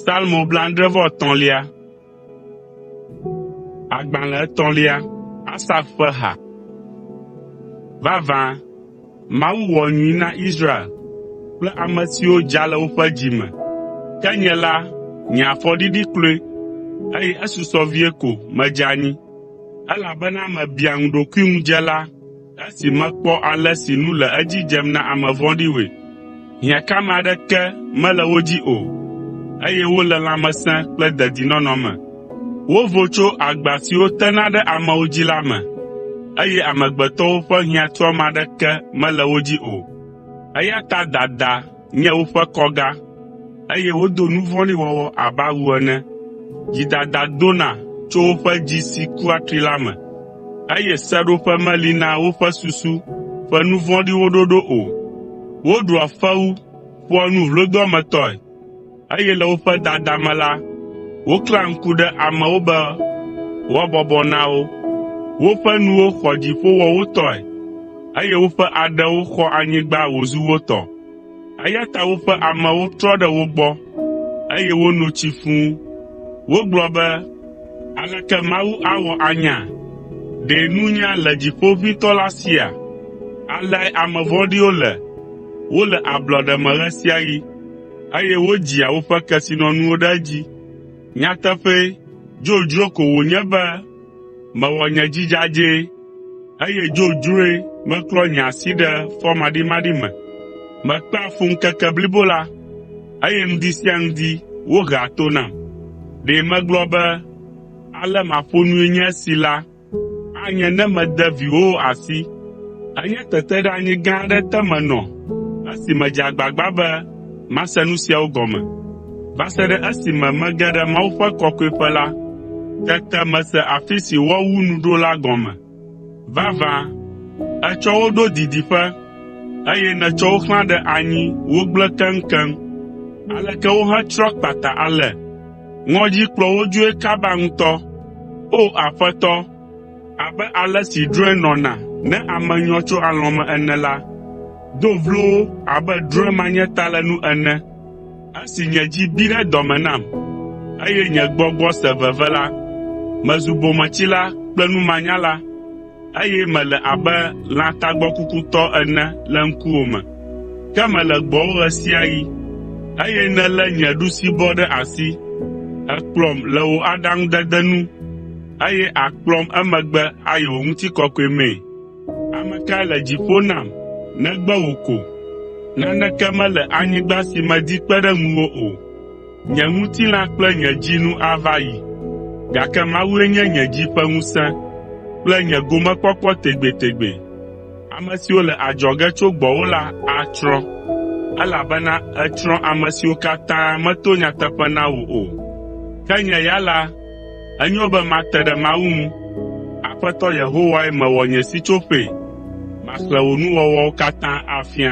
Salmo blaadre-vɔ-etɔ̃lia. Agbalẽ etɔ̃lia. Asaf ƒe ha. Vavã, Mawu wɔ nyui na Israel kple ame siwo dza le woƒe dzi me. Ke nye la, nye afɔ ɖiɖi kloe, eye esusɔ vie ko medze anyi, elabena mebia ŋu ɖokuiŋudzela. Esi mekpɔ ale si nu le edzi dzem na ame vɔ̃ɖiwoe, hiãkame aɖeke mele wo dzi o, eye wole lãmesẽ kple dedinɔnɔ me. Wovo tso agba siwo tena ɖe amewo dzi la me, eye amegbetɔwo ƒe hiãtuame aɖeke mele wo dzi o. Eya ta dada nye woƒe kɔga, eye wodo nu vɔ̃ɖi wɔwɔ abe awu ene. Dzidada dona tso woƒe dzi si ku atri la me, eye seɖoƒe meli na woƒe susu ƒe nu vɔ̃ɖiwo ɖoɖo o. Woɖua fewu ƒoa nu vlodoametɔe, eye le woƒe dada me la, woklẽa ŋku ɖe amewo be woabɔbɔ na wo. Woƒe nuwo xɔ dziƒo wɔ wo tɔe, eye woƒe aɖewo xɔ anyigba wòzu wo tɔ. Eya ta woƒe amewo trɔ ɖe wo gbɔ, eye wono tsi fũ. Wogblɔ be, “Aleke Mawu awɔ anya? Ɖe nunya le Dziƒo ʋĩtɔ la sia?” Aleae ame vɔ̃ɖiwo le, wole ablɔɖe me ɣe sia ɣi. eye wodzia woƒe kesinɔnuwo ɖe edzi. Nyateƒee, dzodzro ko wònye be mewɔ nye dzi dzadzɛ, eye dzodzroe meklɔ nye asi ɖe fɔmaɖimaɖi me. Mekpea fu ŋkeke blibo la, eye ŋdi sia ŋdi wohea to nam. Ɖe megblɔ be, “Ale maƒo nui nye esi” la, Anye ne mede viwòwo asi. Enye teteɖeanyi gã aɖe te menɔ esi medze agbagba be mase nu siawo gɔme. Va se ɖe esime mege ɖe Mawu ƒe Kɔkɔeƒe la, tete mese afi si woawu nu ɖo la gɔme. Vavã, ètsɔ wo ɖo didiƒe, eye nètsɔ wo xlã ɖe anyi wogblẽ keŋkeŋ. Aleke wohetsrɔ̃ kpata ale! Ŋɔdzi kplɔ wo dzoe kaba ŋutɔ. O! Aƒetɔ, abe ale si drɔ̃e nɔna ne ame nyɔ tso alɔ̃ me ene la, do vlo wo abe drɔ̃e manyatalenu ene. Esi nye dzi bi ɖe dɔ me nam, eye nye gbɔgbɔ se veve la, mezu bometsila kple numanyala. eye mele abe lã tagbɔkukutɔ ene le ŋkuwò me. Ke mele gbɔwò ɣe sia ɣi, eye nèlé nye ɖusibɔ ɖe asi. Èkplɔm le wò aɖaŋudede nu, eye àkplɔm emegbe ayi wò ŋutikɔkɔe mee. Ame kae le dziƒo nam negbe wò ko? Naneke mele anyigba si medi kpe ɖe ŋuwò o. Nye ŋutilã kple nye dzi nu ava yi, gake Mawue nye nye dzi ƒe ŋusẽ kple nye gomekpɔkpɔ tegbetegbe. Ame siwo le adzɔge tso gbɔwò la atsrɔ̃, elabena ètsrɔ̃ ame siwo katã meto nyateƒe na wò o. Ke nye ya la, enyo be mate ɖe Mawu ŋu. Aƒetɔ Yehowae mewɔ nye sitsoƒee, maxlẽ wò nuwɔwɔwo katã afia.